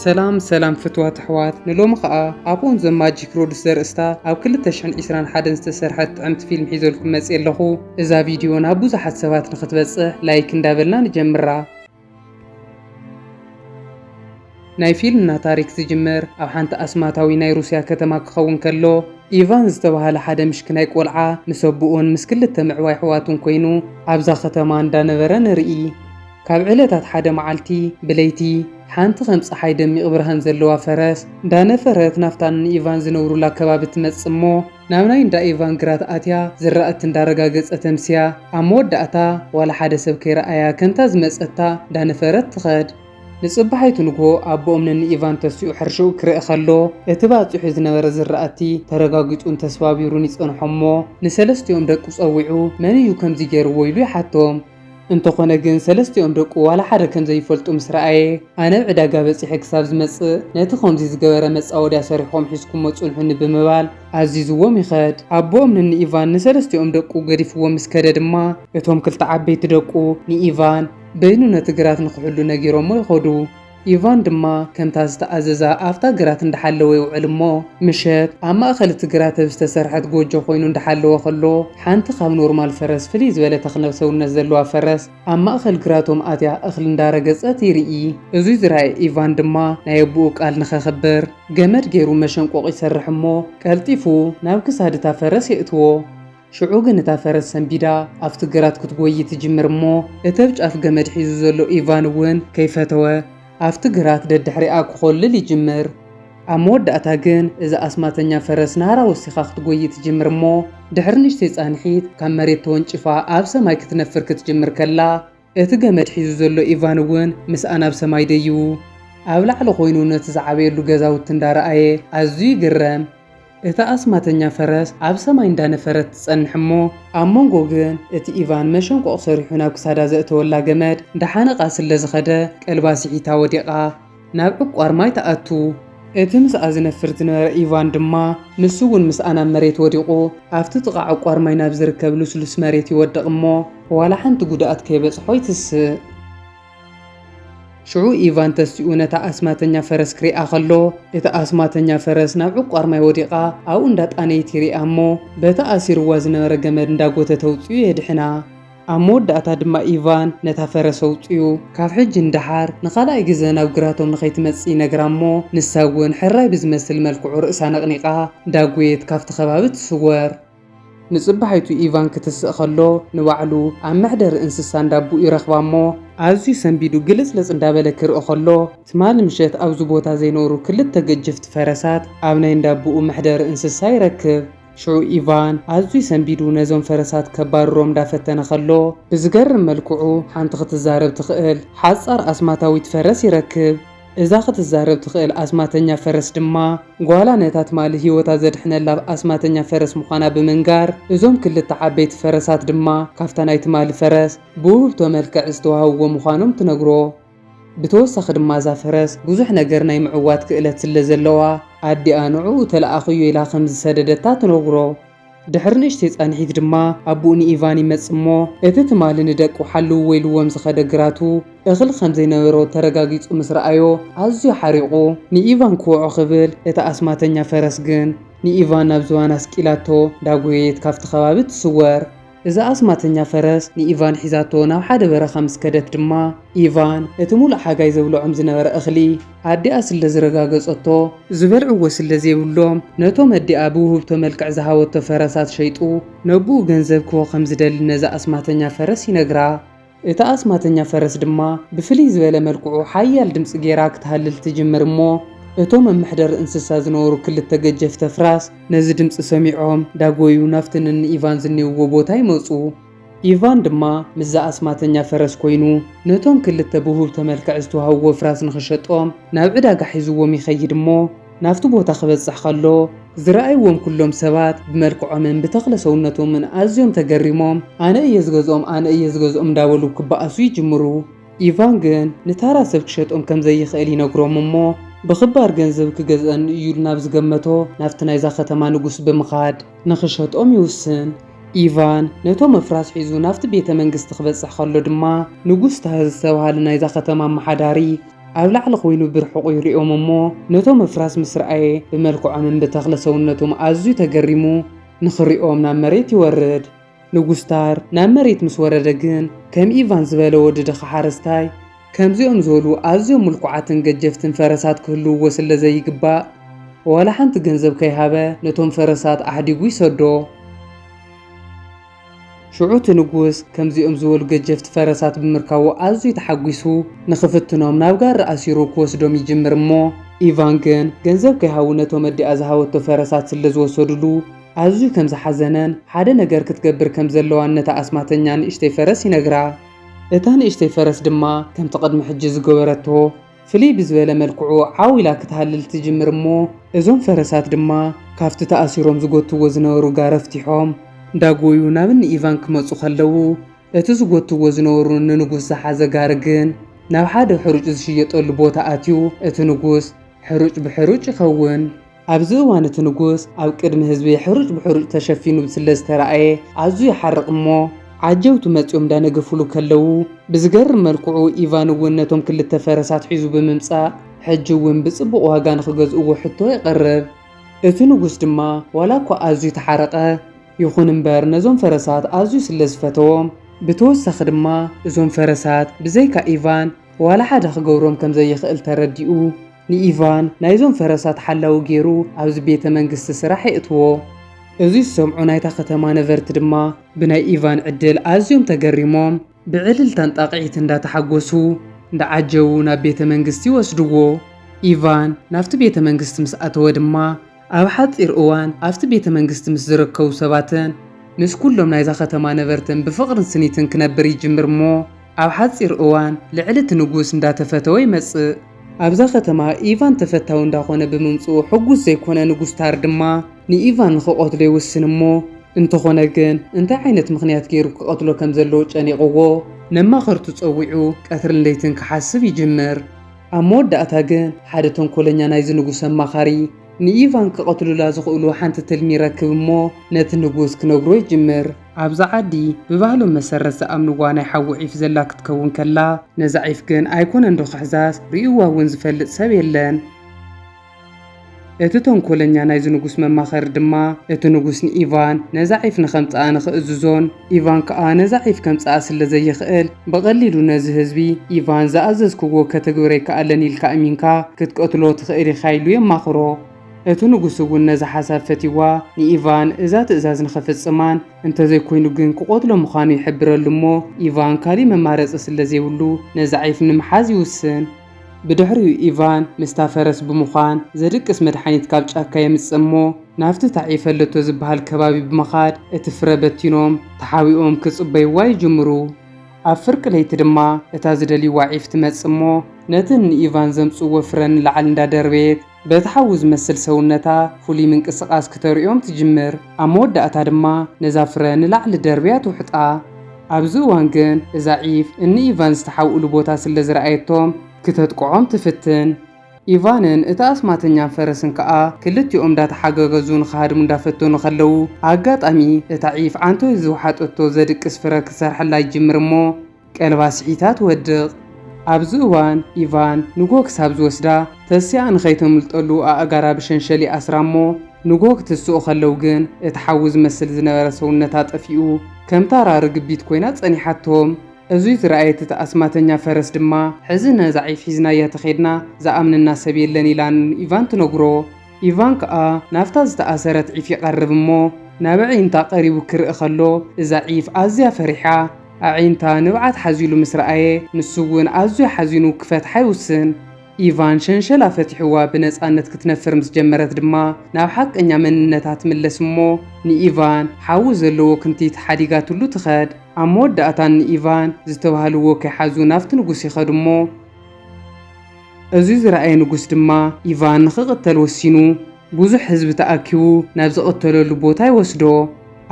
ሰላም ሰላም ፍትዋት ኣሕዋት ንሎሚ ከኣ ኣብ ኦን ዘ ማጂክ ሮድስ ዘርእስታ ኣብ 2021 ዝተሰርሐት ጥዕምቲ ፊልም ሒዘልኩም መጽየ ኣለኹ እዛ ቪድዮ ናብ ብዙሓት ሰባት ንኽትበጽሕ ላይክ እንዳበልና ንጀምራ ናይ ፊልምና ታሪክ ዝጅምር ኣብ ሓንቲ ኣስማታዊ ናይ ሩስያ ከተማ ክኸውን ከሎ፣ ኢቫን ዝተባህለ ሓደ ምሽክናይ ቆልዓ ምስ ኣቡኡን ምስ ክልተ ምዕባይ ኣሕዋቱን ኮይኑ ኣብዛ ከተማ እንዳ ነበረ ንርኢ። ካብ ዕለታት ሓደ መዓልቲ ብለይቲ ሓንቲ ከም ጸሓይ ደሚቅ ብርሃን ዘለዋ ፈረስ እንዳ ነፈረት ናብታ ን ኢቫን ዝነብሩላ ከባቢ ትመጽእ እሞ፣ ናብ ናይ እንዳ ኢቫን ግራት ኣትያ ዝራእቲ እንዳረጋገጸት ኣምስያ። ኣብ መወዳእታ ዋላ ሓደ ሰብ ከይረኣያ ከምታ ዝመጸታ እንዳነፈረት ትኸድ። ንጽባሒቱ ንግሆ ኣቦኦም ነንኢቫን ተሲኡ ሕርሽኡ ክርእ ከሎ እቲ ባጺሑ ዝነበረ ዝራእቲ ተረጋጊጹን ተስባቢሩን ይጸንሖ'ሞ ንሰለስቲኦም ደቁ ጸዊዑ መን እዩ ከምዚ ገይርዎ ኢሉ ይሓቶም። እንተኾነ ግን ሰለስቲኦም ደቁ ዋላ ሓደ ከም ዘይፈልጡ ምስ ረኣየ፣ ኣነ ኣብ ዕዳጋ በጺሐ ክሳብ ዝመጽእ ነቲ ከምዚ ዝገበረ መጻወድያ ሰሪሕኩም ሒዝኩሞ ጽንሑኒ ብምባል ኣዚዝዎም ይኸድ። ኣቦኦም ንንኢቫን ንሰለስቲኦም ደቁ ገዲፍዎም ምስ ከደ ድማ፣ እቶም ክልተ ዓበይቲ ደቁ ንኢቫን በይኑ ነቲ ግራት ንኽሕሉ ነጊሮሞ ይኸዱ። ኢቫን ድማ ከምታ ዝተኣዘዛ ኣብታ ግራት እንዳሓለወ ይውዕል እሞ ምሸት ኣብ ማእኸል እቲ ግራት ብ ዝተሰርሐት ጎጆ ኮይኑ እንዳሓለወ ከሎ ሓንቲ ካብ ኖርማል ፈረስ ፍልይ ዝበለ ተክለ ሰውነት ዘለዋ ፈረስ ኣብ ማእኸል ግራቶም ኣትያ እኽሊ እንዳረገፀት ይርኢ። እዙይ ዝረኣየ ኢቫን ድማ ናይ ኣቡኡ ቃል ንኸኽብር ገመድ ገይሩ መሸንቆቕ ይሰርሕ እሞ ቀልጢፉ ናብ ክሳድ እታ ፈረስ የእትዎ። ሽዑ ግን እታ ፈረስ ሰንቢዳ ኣብቲ ግራት ክትጎዪ ትጅምር እሞ እቲ ኣብ ጫፍ ገመድ ሒዙ ዘሎ ኢቫን እውን ከይፈተወ ኣብቲ ግራት ደድሕሪኣ ክኾልል ይጅምር። ኣብ መወዳእታ ግን እዛ ኣስማተኛ ፈረስ ናህራ ወሲኻ ክትጎዪ ትጅምር እሞ ድሕሪ ንእሽተይ ፃንሒት ካብ መሬት ተወንጪፋ ኣብ ሰማይ ክትነፍር ክትጅምር ከላ እቲ ገመድ ሒዙ ዘሎ ኢቫን እውን ምስኣ ናብ ሰማይ ደዪቡ ኣብ ላዕሊ ዀይኑ ነቲ ዝዓበየሉ ገዛውቲ እንዳ ረኣየ ኣዝዩ ይግረም። እታ ኣስማተኛ ፈረስ ኣብ ሰማይ እንዳ ነፈረት ትጸንሕ እሞ ኣብ መንጎ ግን እቲ ኢቫን መሸንቆቕ ሰሪሑ ናብ ክሳዳ ዘእተወላ ገመድ እንዳሓነቓ ስለ ዝኸደ ቀልባ ስሒታ ወዲቓ። ናብ ዕቋር ማይ ትኣቱ። እቲ ምስኣ ዝነፍር ዝነበረ ኢቫን ድማ ንሱ እውን ምስኣ ናብ መሬት ወዲቑ። ኣብቲ ጥቓ ዕቋር ማይ ናብ ዝርከብ ልስሉስ መሬት ይወድቕ እሞ ዋላ ሓንቲ ጉድኣት ከይበጽሖ ይትስእ። ሽዑ ኢቫን ተሲኡ ነታ ኣስማተኛ ፈረስ ክሪኣ ከሎ፣ እታ ኣስማተኛ ፈረስ ናብ ዕቋር ማይ ወዲቓ ኣብኡ እንዳጣነየት ይሪኣ እሞ በቲ ኣሲሩዋ ዝነበረ ገመድ እንዳጎተተ ኣውጺኡ የድሕና። ኣብ መወዳእታ ድማ ኢቫን ነታ ፈረስ ኣውጺኡ፣ ካብ ሕጂ ንደሓር ንኻልኣይ ግዘ ናብ ግራቶም ንኸይትመጽእ ይነግራ እሞ ንሳ እውን ሕራይ ብዝመስል መልክዑ ርእሳ ነቕኒቓ እንዳጎየት ካብቲ ከባቢ ትስወር። ንጽባሒቱ ኢቫን ክትስእ ከሎ ንባዕሉ ኣብ መሕደሪ እንስሳ እንዳቡኡ ይረኽባ እሞ፣ ኣዝዩ ሰንቢዱ ግልጽልጽ እንዳበለ ክርኢ ከሎ ትማሊ ምሸት ኣብዚ ቦታ ዘይነበሩ ክልተ ገጀፍቲ ፈረሳት ኣብ ናይ እንዳቡኡ መሕደሪ እንስሳ ይረክብ። ሽዑ ኢቫን ኣዝዩ ሰንቢዱ ነዞም ፈረሳት ከባርሮም ዳፈተነ ከሎ ብዝገርም መልክዑ ሓንቲ ክትዛረብ ትኽእል ሓጻር ኣስማታዊት ፈረስ ይረክብ። እዛ ክትዛረብ ትኽእል ኣስማተኛ ፈረስ ድማ ጓላ ነታ ትማሊ ህይወታ ዘድሕነላ ኣስማተኛ ፈረስ ምዃና ብምንጋር እዞም ክልተ ዓበይቲ ፈረሳት ድማ ካብታ ናይ ትማሊ ፈረስ ብውህብቶ መልክዕ ዝተዋህብዎ ምዃኖም ትነግሮ። ብተወሳኺ ድማ እዛ ፈረስ ብዙሕ ነገር ናይ ምዕዋት ክእለት ስለ ዘለዋ፣ ኣዲኣ ንዕኡ ተለኣኽዮ ኢላ ከም ዝሰደደታ ትነግሮ። ድሕሪ ንእሽተይ ጻንሒት ድማ ኣቦኡ ንኢቫን ይመጽእ እሞ፣ እቲ ትማሊ ንደቁ ሓልውዎ ኢልዎም ዝኸደ ግራቱ፣ እኽሊ ከም ዘይነበሮ ተረጋጊጹ ምስ ረኣዮ ኣዝዩ ሓሪቑ ንኢቫን ክወዖ ክብል፣ እታ ኣስማተኛ ፈረስ ግን ንኢቫን ናብ ዝባና ስቂላቶ እንዳጎየየት ካብቲ ከባቢ ትስወር። እዛ ኣስማተኛ ፈረስ ንኢቫን ሒዛቶ ናብ ሓደ በረኻ ምስ ከደት ድማ፣ ኢቫን እቲ ምሉእ ሓጋይ ዘብልዖም ዝነበረ እኽሊ ኣዲኣ ስለ ዝረጋገጸቶ፣ ዝበልዕዎ ስለ ዘይብሎም ነቶም ኣዲኣ ብውህብቶ መልክዕ ዝሃበቶ ፈረሳት ሸይጡ ነቦኡ ገንዘብ ክህቦ ከም ዝደሊ ነዛ ኣስማተኛ ፈረስ ይነግራ። እታ ኣስማተኛ ፈረስ ድማ ብፍልይ ዝበለ መልክዑ ሓያል ድምጺ ገይራ ክትሃልል ትጅምር እሞ እቶም ኣብ መሕደሪ እንስሳ ዝነበሩ ክልተ ገጀፍቲ ኣፍራስ ነዚ ድምጺ ሰሚዖም ዳጎዩ ናብቲ ንኒ ኢቫን ዝኔውዎ ቦታ ይመጹ። ኢቫን ድማ ምስዛ ኣስማተኛ ፈረስ ኮይኑ ነቶም ክልተ ብውህብቶ መልክዕ ዝተዋህብዎ ኣፍራስ ንኽሸጦም ናብ ዕዳጋ ሒዝዎም ይኸይድ እሞ፣ ናብቲ ቦታ ክበጽሕ ከሎ፣ ዝረኣይዎም ኩሎም ሰባት ብመልክዖምን ብተኽለ ሰውነቶምን ኣዝዮም ተገሪሞም፣ ኣነ እየ ዝገዝኦም፣ ኣነ እየ ዝገዝኦም እንዳበሉ ክበኣሱ ይጅምሩ። ኢቫን ግን ንታራ ሰብ ክሸጦም ከም ዘይኽእል ይነግሮም እሞ ብኽባር ገንዘብ ክገዝኣኒ እዩ ኢሉ ናብ ዝገመቶ ናብቲ ናይዛ ከተማ ንጉስ ብምኻድ ንኽሸጦም ይውስን። ኢቫን ነቶም ኣፍራስ ሒዙ ናብቲ ቤተ መንግስቲ ክበጽሕ ከሎ ድማ ንጉስ ታህዝ ዝተባህለ ናይዛ ከተማ ኣመሓዳሪ፣ ኣብ ላዕሊ ኮይኑ ብርሑቑ ይሪኦም እሞ ነቶም ምፍራስ ምስ ረኣየ ብመልክዖምን ብተኽለ ሰውነቶም ኣዝዩ ተገሪሙ ንኽሪኦም ናብ መሬት ይወርድ። ንጉስታር ናብ መሬት ምስ ወረደ ግን ከም ኢቫን ዝበለ ወዲ ድኻ ሓረስታይ ከምዚኦም ዝበሉ ኣዝዮም ምልኩዓትን ገጀፍትን ፈረሳት ክህልውዎ ስለ ዘይግባእ ዋላ ሓንቲ ገንዘብ ከይሃበ ነቶም ፈረሳት ኣሕዲጉ ይሰዶ። ሽዑ እቲ ንጉስ ከምዚኦም ዝበሉ ገጀፍቲ ፈረሳት ብምርካቡ ኣዝዩ ተሓጒሱ፣ ንኽፍትኖም ናብ ጋሪ ኣሲሩ ክወስዶም ይጅምር እሞ፣ ኢቫን ግን ገንዘብ ከይሃቡ ነቶም ኣዲኣ ዝሃበቶ ፈረሳት ስለ ዝወሰዱሉ ኣዝዩ ከም ዝሓዘነን ሓደ ነገር ክትገብር ከም ዘለዋን ነታ ኣስማተኛ ንእሽተይ ፈረስ ይነግራ። እታ ንእሽተይ ፈረስ ድማ ከምቲ ቅድሚ ሕጂ ዝገበረቶ ፍልይ ብዝበለ መልክዑ ዓው ኢላ ክትሃልል ትጅምር እሞ እዞም ፈረሳት ድማ ካብቲ ተኣሲሮም ዝጎትዎ ዝነበሩ ጋሪ ኣፍቲሖም እንዳጎዩ ናብ እኒ ኢቫን ክመጹ ከለዉ እቲ ዝጎትዎ ዝነበሩ ንንጉስ ዝሓዘ ጋሪ ግን ናብ ሓደ ሕሩጭ ዝሽየጠሉ ቦታ ኣትዩ እቲ ንጉስ ሕሩጭ ብሕሩጭ ይኸውን ኣብዚ እዋን እቲ ንጉስ ኣብ ቅድሚ ህዝቢ ሕሩጭ ብሕሩጭ ተሸፊኑ ስለ ዝተራእየ ኣዝዩ ይሓርቕ እሞ ዓጀውቱ መጺኦም ዳነገፉሉ ከለዉ ብዝገርም መልክዑ ኢቫን እውን ነቶም ክልተ ፈረሳት ሒዙ ብምምጻእ ሕጂ እውን ብጽቡቕ ዋጋ ንኽገዝእዎ ሕቶ የቕርብ። እቲ ንጉስ ድማ ዋላ እኳ ኣዝዩ ተሓረቐ ይኹን እምበር ነዞም ፈረሳት ኣዝዩ ስለ ዝፈተዎም ብተወሳኺ ድማ እዞም ፈረሳት ብዘይካ ኢቫን ዋላ ሓደ ክገብሮም ከም ዘይኽእል ተረዲኡ ንኢቫን ናይዞም ፈረሳት ሓላዊ ገይሩ ኣብዚ ቤተ መንግስቲ ስራሕ የእትዎ። እዚ ዝሰምዑ ናይታ ከተማ ነበርቲ ድማ ብናይ ኢቫን ዕድል ኣዝዮም ተገሪሞም ብዕልልታን ጣቕዒትን እንዳተሓጎሱ እንዳዓጀቡ ናብ ቤተ መንግስቲ ወስድዎ። ኢቫን ናብቲ ቤተ መንግስቲ ምስ ኣተወ ድማ፣ ኣብ ሓጺር እዋን ኣብቲ ቤተ መንግስቲ ምስ ዝርከቡ ሰባትን ምስ ኩሎም ናይዛ ከተማ ነበርትን ብፍቕርን ስኒትን ክነብር ይጅምር እሞ ኣብ ሓጺር እዋን ልዕሊ እቲ ንጉስ እንዳተፈተወ ይመጽእ። ኣብዛ ከተማ ኢቫን ተፈታዊ እንዳኾነ ብምምጽኡ ሕጉስ ዘይኮነ ንጉስ ታር ድማ ንኢቫን ንኽቐትሎ ይውስን እሞ እንተኾነ ግን እንታይ ዓይነት ምኽንያት ገይሩ ክቐትሎ ከም ዘለዎ ጨኒቕዎ ነማኸርቱ ጸዊዑ ቀትርን ለይትን ክሓስብ ይጅምር። ኣብ መወዳእታ ግን ሓደ ተንኮለኛ ናይዚ ንጉስ ኣማኻሪ ንኢቫን ክቐትሉላ ዝኽእሉ ሓንቲ ትልሚ ይረክብ እሞ ነቲ ንጉስ ክነግሮ ይጅምር። ኣብዛ ዓዲ ብባህሎም መሰረት ዝኣምንዋ ናይ ሓዊ ዒፍ ዘላ ክትከውን ከላ ነዛ ዒፍ ግን ኣይኮነንዶ ክሕዛስ ሪኡዋ እውን ዝፈልጥ ሰብ የለን። እቲ ተንኮለኛ ናይዚ ንጉስ መማኸሪ ድማ፣ እቲ ንጉስ ንኢቫን ነዛ ዒፍ ንኸምጽኣ ንኽእዝዞን፣ ኢቫን ከኣ ነዛ ዒፍ ከምጽኣ ስለ ዘይኽእል፣ ብቐሊሉ ነዚ ህዝቢ፣ ኢቫን ዝኣዘዝክዎ ከተግብር ኣይከኣለን ኢልካ እሚንካ ክትቀትሎ ትኽእል ኢኻ ኢሉ የማኽሮ። እቲ ንጉስ እውን ነዛ ሓሳብ ፈቲዋ፣ ንኢቫን እዛ ትእዛዝ ንኸፍጽማን፣ እንተ ዘይኮይኑ ግን ክቐትሎ ምዃኑ ይሕብረሉ እሞ፣ ኢቫን ካልእ መማረጺ ስለ ዘይብሉ ነዛ ዒፍ ንምሓዝ ይውስን። ብድሕሪኡ ኢቫን ምስታ ፈረስ ብምዃን ዘድቅስ መድሓኒት ካብ ጫካ የምጽእ እሞ ናብቲ ተዓይፈለቶ ዝበሃል ከባቢ ብምኻድ እቲ ፍረ በቲኖም ተሓቢኦም ክጽበይዋ ይጅምሩ። ኣብ ፍርቂ ለይቲ ድማ እታ ዝደልይዋ ዒፍ ትመጽእ እሞ ነቲ ንኢቫን ዘምጽእዎ ፍረ ንላዕሊ እንዳደርበየት በቲ ሓዊ ዝመስል ሰውነታ ፍሉይ ምንቅስቓስ ክተርእዮም ትጅምር፣ ኣብ መወዳእታ ድማ ነዛ ፍረ ንላዕሊ ደርብያ ትውሕጣ። ኣብዚ እዋን ግን እዛ ዒፍ እኒ ኢቫን ዝተሓብእሉ ቦታ ስለ ዝረኣየቶም ክተጥቅዖም ትፍትን። ኢቫንን እቲ ኣስማተኛን ፈረስን ከኣ ክልቲኦም እንዳተሓጋገዙ ንኽሃድሙ እንዳፈተኑ ከለዉ ኣጋጣሚ እታ ዒፍ ዓንተኡ ዝውሓጠቶ ዘድቅስ ፍረ ክትሰርሐላ ይጅምር እሞ፣ ቀልባ ስሒታ ትወድቕ። ኣብዚ እዋን ኢቫን ንጎ ክሳብ ዝወስዳ ተሲኣ ንኸይተምልጠሉ ኣእጋራ ብሸንሸል ይኣስራ'ሞ ንጎ ክትስኡ ከለው ግን እቲ ሓዊ ዝመስል ዝነበረ ሰውነታ ጠፊኡ ከም ታራ ርግቢት ኮይና ጸኒሓቶም። እዙይ ዝረኣየት እቲ ኣስማተኛ ፈረስ ድማ። ሕዚ ነዛ ዒፍ ሒዝናያ ተኼድና ዝኣምነና ሰብ የለን ኢላ ንኢቫን ትነግሮ። ኢቫን ከኣ ናብታ ዝተኣሰረት ዒፍ ይቐርብ እሞ ናብ ኣዒንታ ቀሪቡ ክርኢ ከሎ እዛ ዒፍ ኣዝያ ፈሪሓ ኣዒንታ ንብዓት ሓዚሉ ምስ ረኣየ ንሱ እውን ኣዝዩ ሓዚኑ ክፈትሓ ይውስን። ኢቫን ሸንሸላ ፈቲሑዋ ብነጻነት ክትነፍር ምስ ጀመረት ድማ ናብ ሓቀኛ መንነታ ትምለስ እሞ ንኢቫን ሓዊ ዘለዎ ክንቲት ሓዲጋትሉ ትኸድ። ኣብ መወዳእታ እኒ ኢቫን ዝተባህልዎ ከይሓዙ ናብቲ ንጉስ ይኸዱ እሞ። እዚ ዝረኣየ ንጉስ ድማ ኢቫን ንኽቕተል ወሲኑ፣ ብዙሕ ህዝቢ ተኣኪቡ ናብ ዝቕተለሉ ቦታ ይወስዶ።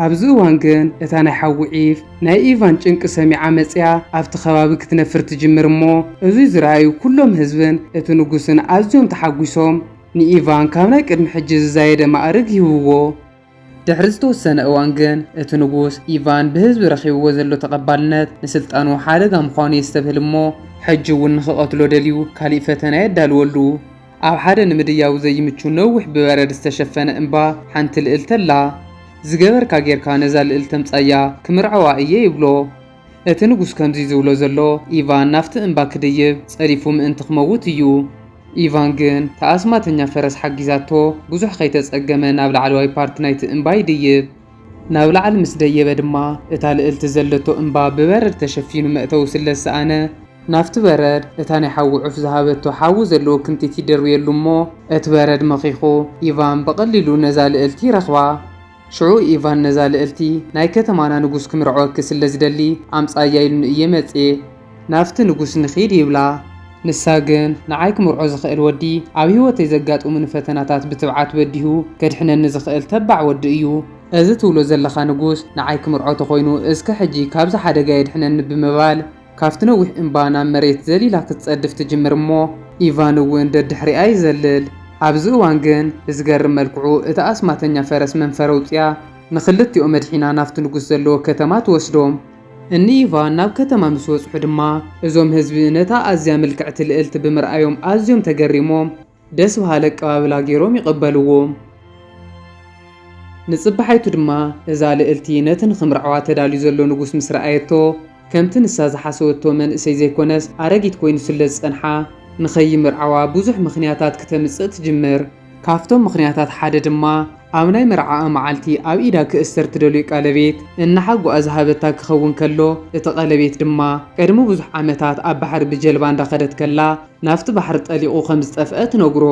ኣብዚ እዋን ግን እታ ናይ ሓዊ ዒፍ ናይ ኢቫን ጭንቂ ሰሚዓ መጺኣ ኣብቲ ከባቢ ክትነፍር ትጅምር እሞ እዚ ዝረኣዩ ኩሎም ህዝብን እቲ ንጉስን ኣዝዮም ተሓጒሶም ንኢቫን ካብ ናይ ቅድሚ ሕጂ ዝዛየደ ማእርግ ይህብዎ። ድሕሪ ዝተወሰነ እዋን ግን እቲ ንጉስ ኢቫን ብህዝቢ ረኺብዎ ዘሎ ተቐባልነት ንስልጣኑ ሓደጋ ምዃኑ የስተብህል እሞ ሕጂ እውን ንኽቐትሎ ደልዩ ካሊእ ፈተነ የዳልወሉ። ኣብ ሓደ ንምድያቡ ዘይምቹ ነዊሕ ብበረድ ዝተሸፈነ እምባ ሓንቲ ልእልቲ ኣላ። ዝገበርካ ጌርካ ነዛ ልእልቲ ኣምጻያ ክምርዐዋ እየ ይብሎ። እቲ ንጉስ ከምዚ ዝብሎ ዘሎ ኢቫን ናብቲ እምባ ክድይብ ጸዲፉ ምእንቲ ክመውት እዩ። ኢቫን ግን እታ ኣስማተኛ ፈረስ ሓጊዛቶ ብዙሕ ከይተጸገመ ናብ ላዕለዋይ ፓርት ናይቲ እምባ ይድይብ። ናብ ላዕሊ ምስ ደየበ ድማ እታ ልእልቲ ዘለቶ እምባ ብበረድ ተሸፊኑ መእተዊ ስለ ዝሰኣነ፣ ናብቲ በረድ እታ ናይ ሓዊ ዑፍ ዝሃበቶ ሓዊ ዘለዎ ክንቲት ይድርብየሉ እሞ እቲ በረድ መኺኹ ኢቫን ብቐሊሉ ነዛ ልእልቲ ይረኽባ። ሽዑ ኢቫን ነዛ ልእልቲ ናይ ከተማና ንጉስ ክምርዐወኪ ስለ ዝደሊ ኣምጻያ ኢሉኒ እየ መጽየ። ናብቲ ንጉስ ንኺድ ይብላ። ንሳ ግን ንዓይ ክምርዖ ዝኽእል ወዲ ኣብ ህይወተይ ዘጋጥሙኒ ፈተናታት ብትብዓት በዲሁ ከድሕነኒ ዝኽእል ተባዕ ወዲ እዩ። እዚ ትብሎ ዘለኻ ንጉስ ንዓይ ክምርዖ ተኾይኑ እስከ ሕጂ ካብዚ ሓደጋ የድሕነኒ ብምባል፣ ካብቲ ነዊሕ እምባ ናብ መሬት ዘሊላ ክትጸድፍ ትጅምር እሞ ኢቫን እውን ደድሕሪኣ ይዘልል። ኣብዚ እዋን ግን ብዝገርም መልክዑ እታ ኣስማተኛ ፈረስ መንፈር ኣውጺኣ ንኽልቲኦም ኣድሒና ናብቲ ንጉስ ዘለዎ ከተማ ትወስዶም። እኒ ኢቫን ናብ ከተማ ምስ በጽሑ ድማ እዞም ህዝቢ ነታ ኣዝያ ምልክዕቲ ልእልቲ ብምርኣዮም ኣዝዮም ተገሪሞም ደስ በሃሊ ኣቀባብላ ገይሮም ይቐበልዎ። ንጽባሒቱ ድማ እዛ ልእልቲ ነቲ ንኽምርዓዋ ተዳልዩ ዘሎ ንጉስ ምስ ረኣየቶ ከምቲ ንሳ ዝሓሰበቶ መንእሰይ ዘይኮነስ ኣረጊት ኮይኑ ስለ ዝጸንሓ ንኸይምርዓዋ ብዙሕ ምኽንያታት ክተምጽእ ትጅምር። ካብቶም ምኽንያታት ሓደ ድማ ኣብ ናይ መርዓኣ መዓልቲ ኣብ ኢዳ ክእሰር ትደልዮ ቀለቤት እናሓጎኣ ዝሃበታ ክኸውን ከሎ እቲ ቀለቤት ድማ ቅድሚ ብዙሕ ዓመታት ኣብ ባሕሪ ብጀልባ እንዳኸደት ከላ ናብቲ ባሕሪ ጠሊቑ ከም ዝጠፍአ ትነግሮ።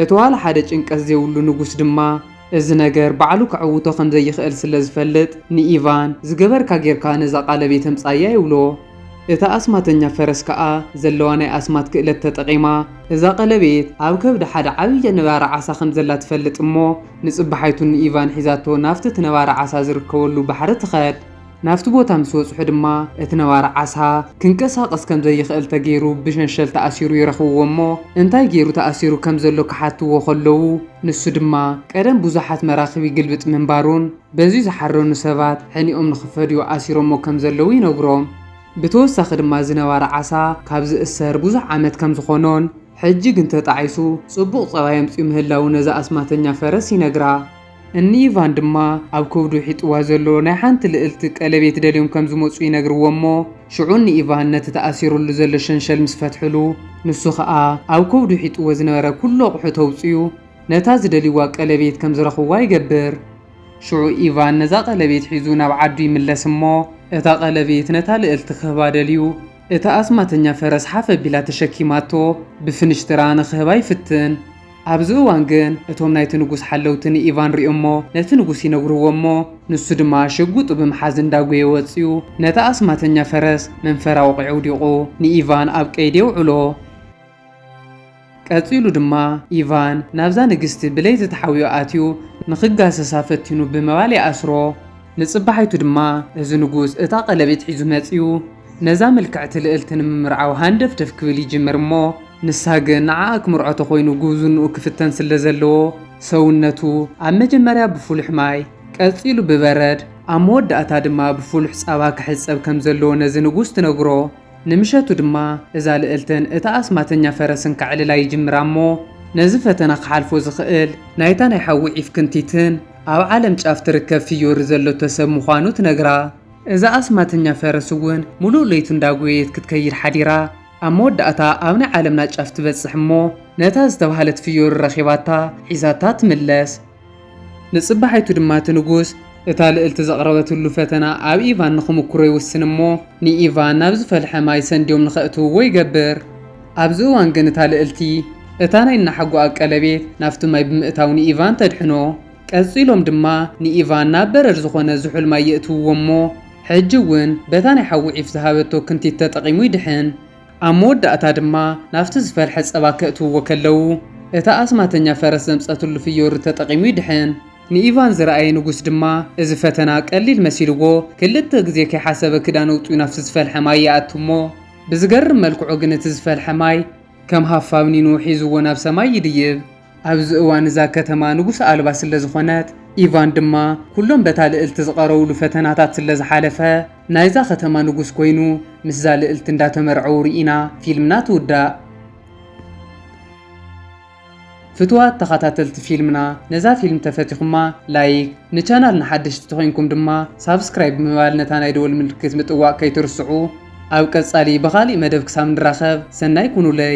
እቲ ዋላ ሓደ ጭንቀት ዘይብሉ ንጉስ ድማ እዚ ነገር ባዕሉ ከዕውቶ ከም ዘይኽእል ስለ ዝፈልጥ ንኢቫን፣ ዝገበርካ ጌርካ ነዛ ቓለብ የተምጽኣያ ይብሎ። እታ ኣስማተኛ ፈረስ ከኣ ዘለዋ ናይ ኣስማት ክእለት ተጠቒማ እዛ ቐለቤት ኣብ ከብዲ ሓደ ዓብዪ ነባሪ ዓሳ ከም ዘላ ትፈልጥ እሞ ንጽባሓይቱ ንኢቫን ሒዛቶ ናብቲ እቲ ነባሪ ዓሳ ዝርከበሉ ባሕሪ ትኸድ። ናብቲ ቦታ ምስ በጽሑ ድማ እቲ ነባሪ ዓሳ ክንቀሳቐስ ከም ዘይኽእል ተገይሩ ብሸንሸል ተኣሲሩ ይረኽብዎ እሞ እንታይ ገይሩ ተኣሲሩ ከም ዘሎ ክሓትዎ ከለዉ ንሱ ድማ ቀደም ብዙሓት መራኽብ ይግልብጥ ምንባሩን በዚ ዝሓረኑ ሰባት ሕኒኦም ንኽፈድዩ ኣሲሮሞ ከም ዘለዉ ይነግሮም። ብተወሳኺ ድማ እዚ ነባሪ ዓሳ ካብ ዝእሰር ብዙሕ ዓመት ከም ዝኾኖን ሕጂ ግን ተጣዒሱ ጽቡቕ ጸባይ ኣምጺኡ ምህላዉ ነዛ ኣስማተኛ ፈረስ ይነግራ። እኒ ኢቫን ድማ ኣብ ከብዱ ሒጥዋ ዘሎ ናይ ሓንቲ ልእልቲ ቀለቤት ደልዮም ከም ዝመጹ ይነግርዎ እሞ ሽዑ እኒ ኢቫን ነቲ ተኣሲሩሉ ዘሎ ሸንሸል ምስ ፈትሑሉ ንሱ ከኣ ኣብ ከብዱ ሒጥዎ ዝነበረ ኩሉ ኣቑሑ ተውጽዩ ነታ ዝደልይዋ ቀለቤት ከም ዝረኽብዋ ይገብር። ሽዑ ኢቫን ነዛ ቀለቤት ሒዙ ናብ ዓዱ ይምለስ እሞ እታ ቀለቤት ነታ ልእልቲ ክህባ ደልዩ እታ ኣስማተኛ ፈረስ ሓፍ ኣቢላ ተሸኪማቶ ብፍንሽትራ ንኽህባ ይፍትን። ኣብዚ እዋን ግን እቶም ናይቲ ንጉስ ሓለውቲ ንኢቫን ሪኦሞ ነቲ ንጉስ ይነግርዎ እሞ ንሱ ድማ ሽጉጡ ብምሓዝ እንዳጎየ ወጽዩ ነታ ኣስማተኛ ፈረስ መንፈራ ወቂዑ ኣውዲቁ ንኢቫን ኣብ ቀይዲ የውዕሎ። ቀጺሉ ድማ ኢቫን ናብዛ ንግስቲ ብለይቲ ተሓውዮ ኣትዩ ንክጋሰሳ ፈቲኑ ብምባል ይኣስሮ። ንጽባሒቱ ድማ እዚ ንጉስ እታ ቀለቤት ሒዙ መጽዩ። ነዛ ምልክዕቲ ልእልቲ ንምምርዓው ሃንደፍደፍ ክብል ይጅምር እሞ ንሳ ግን ንዓኣ ክምርዖ ተኾይኑ ጉብዝንኡ ክፍተን ስለ ዘለዎ ሰውነቱ ኣብ መጀመርያ ብፍሉሕ ማይ ቀጺሉ ብበረድ ኣብ መወዳእታ ድማ ብፍሉሕ ጻባ ክሕጸብ ከም ዘለዎ ነዚ ንጉስ ትነግሮ ንምሸቱ ድማ እዛ ልእልትን እታ ኣስማተኛ ፈረስን ከዕልላ ይጅምራ እሞ ነዚ ፈተና ክሓልፎ ዝኽእል ናይታ ናይ ሓዊ ዒፍ ክንቲትን ኣብ ዓለም ጫፍ ትርከብ ፍዮሪ ዘለቶ ሰብ ምዃኑ ትነግራ። እዛ ኣስማተኛ ፈረስ እውን ምሉእ ለይቱ እንዳጎየየት ክትከይድ ሓዲራ ኣብ መወዳእታ ኣብ ናይ ዓለምና ጫፍ ትበጽሕ እሞ ነታ ዝተባህለት ፍዮሪ ረኺባታ ሒዛታ ትምለስ። ንጽባሒቱ ድማ እቲ ንጉስ እታ ልእልቲ ዘቕረበትሉ ፈተና ኣብ ኢቫን ንኽምኩሮ ይውስን እሞ ንኢቫን ናብ ዝፈልሐ ማይ ሰንድዮም ንኸእትውዎ ይገብር። ኣብዚ እዋን ግን እታ ልእልቲ እታ ናይ እናሓጎኣ ቀለቤት ናብቲ ማይ ብምእታው ንኢቫን ተድሕኖ። ቀጺሎም ድማ ንኢቫን ናብ በረድ ዝኾነ ዝሑል ማይ የእትውዎ እሞ ሕጂ እውን በታ ናይ ሓዊ ዒፍ ዝሃበቶ ክንቲት ተጠቒሙ ይድሕን። ኣብ መወዳእታ ድማ ናብቲ ዝፈልሐ ጸባ ከእትውዎ ከለዉ እታ ኣስማተኛ ፈረስ ዘምጸትሉ ፍዮሪ ተጠቒሙ ይድሕን። ንኢቫን ዝረኣየ ንጉስ ድማ እዚ ፈተና ቀሊል መሲልዎ ክልተ ግዜ ከይሓሰበ ክዳን ኣውጺኡ ናብቲ ዝፈልሐ ማይ ይኣቱ እሞ ብዝገርም መልክዑ ግን እቲ ዝፈልሐ ማይ ከም ሃፋ ብኒኑ ሒዝዎ ናብ ሰማይ ይድይብ። ኣብዚ እዋን እዛ ከተማ ንጉስ ኣልባ ስለ ዝኾነት፣ ኢቫን ድማ ኩሎም በታ ልእልቲ ዝቐረውሉ ፈተናታት ስለ ዝሓለፈ ናይዛ ከተማ ንጉስ ኮይኑ ምስዛ ልእልቲ እንዳተመርዐዉ ሪኢና ፊልምና ትውዳእ። ፍቱዋት ተኻታተልቲ ፊልምና ነዛ ፊልም ተፈቲኹማ ላይክ፣ ንቻናልና ሓደሽቲ ተኾይንኩም ድማ ሳብስክራይብ ብምባል ነታ ናይ ደወል ምልክት ምጥዋቕ ከይትርስዑ። ኣብ ቀጻሊ ብኻሊእ መደብ ክሳብ ንራኸብ ሰናይ ኩኑለይ።